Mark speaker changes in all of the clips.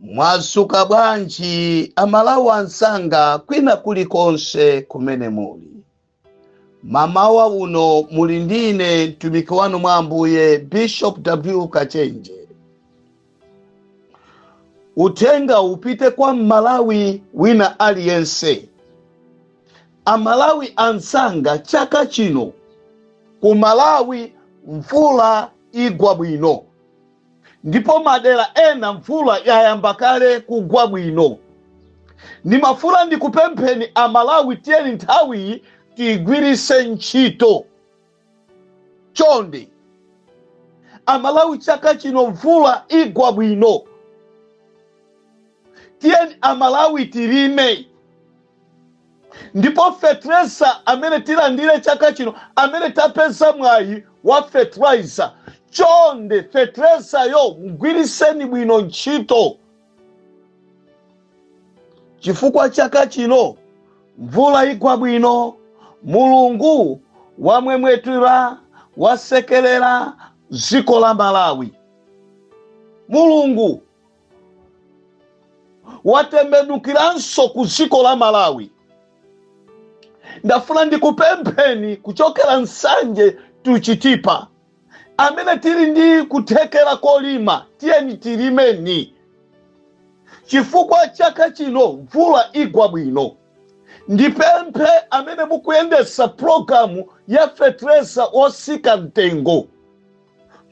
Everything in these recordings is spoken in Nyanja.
Speaker 1: mwasuka bwanji amalawi ansanga kwina kulikonse kumene muli mamawa uno muli ndine mtumiki wanu mwa ambuye bishop w kachenje uthenga upite kwa mmalawi wina aliyense amalawi ansanga chaka chino ku malawi mvula igwa bwino ndipo madera ena mvula yayamba kale kugwa bwino. Ndimafuna ndikupempheni a Malawi tiyeni nthawiyi tiyigwiritse ntchito. Chonde a Malawi chaka chino mvula igwa bwino. Tiyeni a Malawi tilime. Ndipo fetreza amene tilandire chaka chino, amene tapeza mwayi wa fertilizer, chonde fetrezayo mgwiriseni bwino ntchito chifukwa chaka chino mvula igwa bwino, Mulungu wamwemwetula, wasekelera dziko la Malawi. Mulungu watembenukiranso ku dziko la malawi ndafuna ndikupempheni kuchokera nsanje to Chitipa amene tili ndi kuthekera kolima tiyeni tilimeni chifukwa chaka chino mvula igwa bwino ndipemphe amene mukuyendesa pulogalamu ya fetereza wotsika mtengo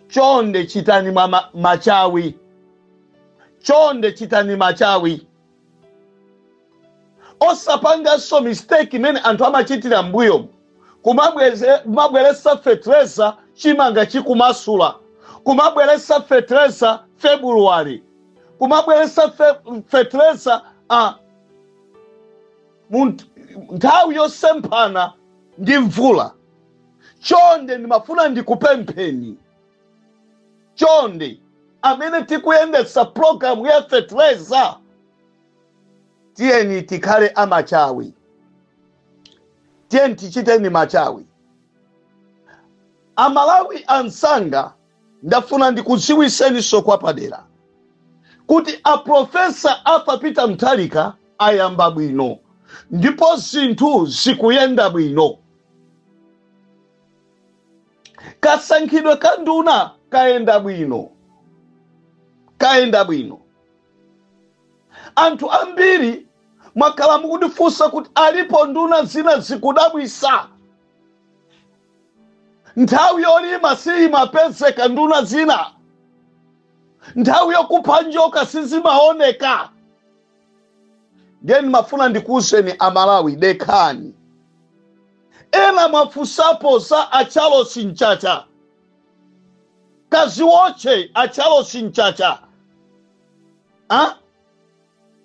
Speaker 1: chonde chitani machawi chonde chitani machawi osapanganso mistake imene anthu amachitira mbuyo kumabweretsa fetereza chimanga chikumasula kumabweretsa fetereza february kumabweretsa fetereza nthawi yosemphana ndi mvula chonde ndimafuna ndikupempheni chonde amene tikuyendetsa pulogalamu ya fetereza tiyeni tikhale amachawi tiyeni tichiteni machawi amalawi ansanga Ndafuna ndikudziwitseninso kwapadera kuti a Professor Arthur Peter Mutharika ayamba bwino ndipo zinthu zikuyenda bwino. Kasankhidwe ka nduna kayenda bwino, kayenda bwino. Anthu ambiri mwakhala mukundifunsa kuti alipo nduna zina zikudabwitsa. nthawi yolima siyimapezeka nduna zina nthawi yokupha njoka sizimaoneka ndiye ndimafuna ndikuwuzeni aMalawi dekhani ena mwafunsapo za a Charles Mchacha kaziwotche a Charles Mchacha ah?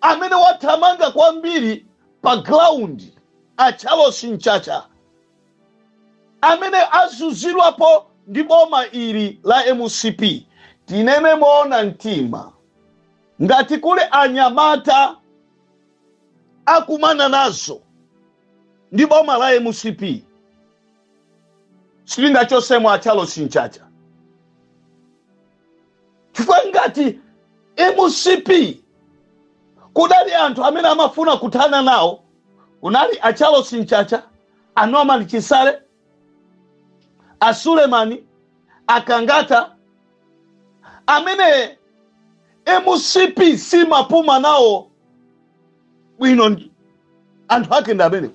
Speaker 1: amene wathamanga kwambiri pa ground a Charles Mchacha amene azunzidwapo ndi boma ili la mcp tinene moona mtima ngati kuli anyamata akumana nazo ndi boma la mcp sitingachotsemo a Charles Mchacha chifukwa ngati mcp kudali anthu amene amafuna kuthana nawo kunali a Charles Mchacha a Norman Chisale a Suleman a Kangata amene mcp simapuma nawo bwino anthu ake ndi amene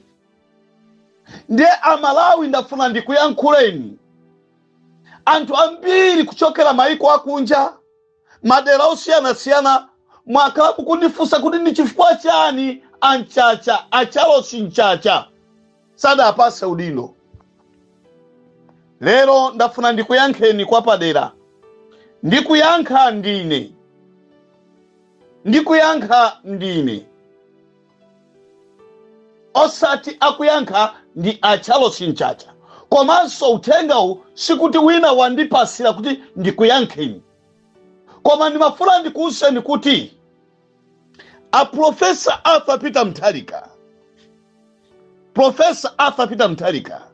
Speaker 1: ndiye aMalawi ndafuna ndikuyankhuleni anthu ambiri kuchokera maiko akunja madera osiyanasiyana mwakhala mukundifunsa kuti ndi chifukwa chani a Mchacha a Charles Mchacha sadapatse udindo lero ndafuna ndikuyankheni kwa padera ndikuyankha ndine ndikuyankha ndine osati akuyankha ndi a Charles Mchacha komanso uthengawu sikuti wina wandipatsira kuti ndikuyankheni koma ndimafuna ndikuwuzeni kuti a Professor Arthur Peter Mutharika Professor Arthur Peter Mutharika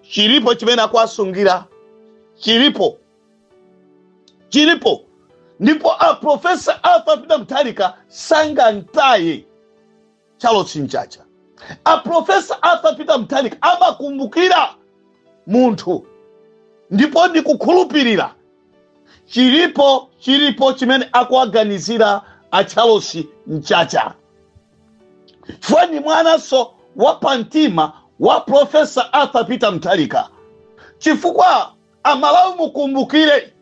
Speaker 1: chilipo chimene akuwasungira chilipo chilipo ndipo a Professor Arthur Peter Mutharika sangamtaye Charles Mchacha a Professor Arthur Peter Mutharika amakumbukira munthu ndipo ndikukhulupirira chilipo chilipo chimene akuwaganizira a Charles Mchacha chifukwa ndi mwananso wa pamtima wa Professor Arthur Peter Mutharika chifukwa Amalawi mukumbukire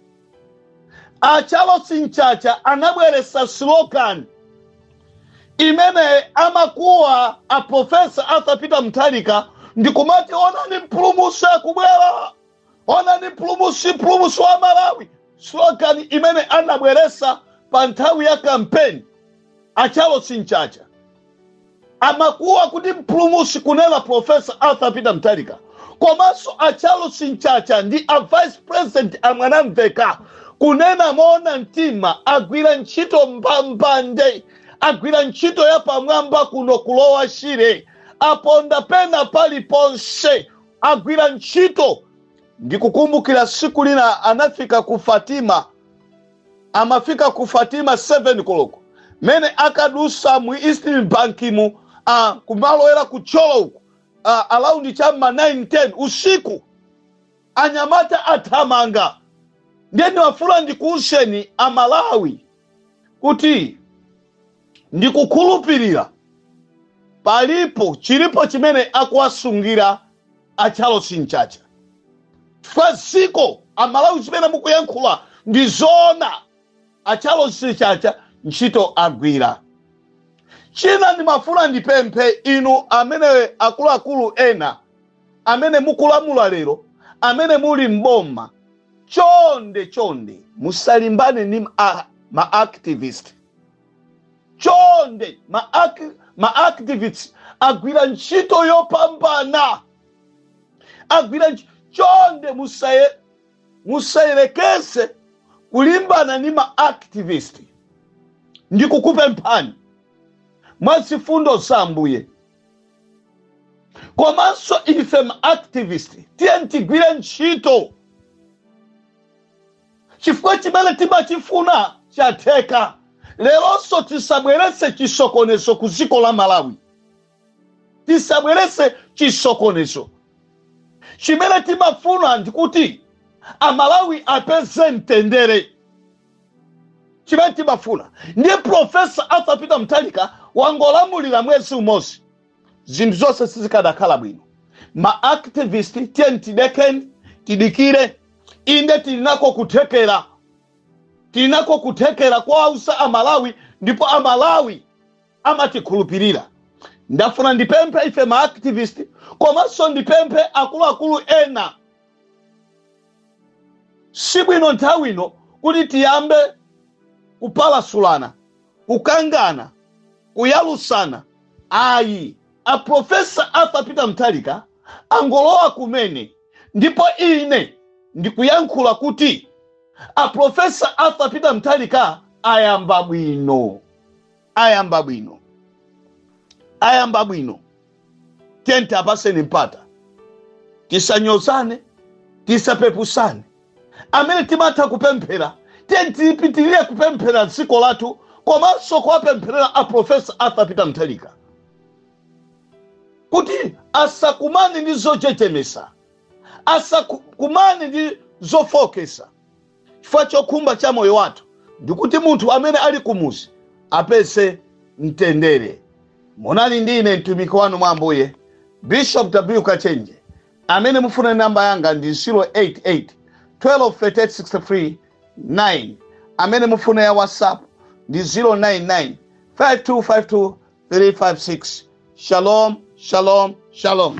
Speaker 1: a Charles Mchacha anabweretsa slogan imene amakuwa a Professor Arthur Peter Mutharika ndikumati onani mpulumusi akubwera, onani mpulumusi, mpulumusi wa Malawi. Slogan imene anabweretsa pa nthawi ya kampeni a Charles Mchacha. amakuwa kuti mpulumusi kunena profesa arthur peter mutharika komanso a charles mchacha ndi a vice president a mwanamveka kunena moona mtima agwira ntchito mbambande agwira ntchito yapamwamba kuno ku lower shire aponda pena paliponse agwira ntchito ndikukumbukira siku lina anafika ku fatima amafika ku fatima 7 koloko mene akadusa mu east bank mu kumalowera ku thyolo uku around chamma 9 10 usiku anyamata athamanga ndiye ndimafuna ndikuwuzeni amalawi kuti ndikukhulupirira palipo chilipo chimene akuwasungira a charles mchacha chifukwa dziko amalawi zimene mukuyankhula ndi zoona a charles mchacha ntchito agwira china ndimafuna ndipemphe inu amene akuluakulu ena amene mukulamula lero amene muli mboma chonde chonde musalimbane ndi ma- a- ma activist chonde ma, ac- ma activists agwira ntchito yopambana agwira ntch- chonde musaye musayelekeze kulimbana ndi ma activist ndikukupemphani mwa zifundo za ambuye komanso ife ma activist tiyeni tigwire ntchito chifukwa chimene timachifuna chatheka leronso tisabweretse chisokonezo ku dziko la malawi tisabweretse chisokonezo chimene timafuna ndikuti amalawi apeze mtendere chimene timafuna ndiye profesa arthur peter mutharika wangolamulira mwezi umodzi zinthu zonse sizikadakhala bwino ma activist tiyeni tidekeni tidikire inde tili nako kuthekera tili nako kuthekera kowauza amalawi ndipo amalawi amatikhulupirira ndafuna ndipemphe ife ma activist komanso ndipemphe akuluakulu ena si bwino nthawi ino kuti tiyambe kupalasulana kukangana kuyalusana ayi a profesa arthur peter mutharika angolowa kumene ndipo ine ndikuyankhula kuti a profesa arthur peter mutharika ayamba bwino ayamba bwino ayamba bwino tenti apaseni mpata tisanyozane tisapepusane amene timatha kupemphera tenti tipitirire kupempherera dziko lathu komanso kuwapempherera a profesa arthur peter mutharika kuti asakumane ndi zochechemesa asakumane ndi zofokesa chifukwa chokhumba cha moyo wathu ndikuti munthu amene ali kumuzi apeze mtendere munali ndi ine mtumiki wanu mwa ambuye bishop w kachenje amene mufuna namba yanga ndi 088 123863 9 amene mufuna ya whatsapp ndi 099 5252 356 shalom shalom shalom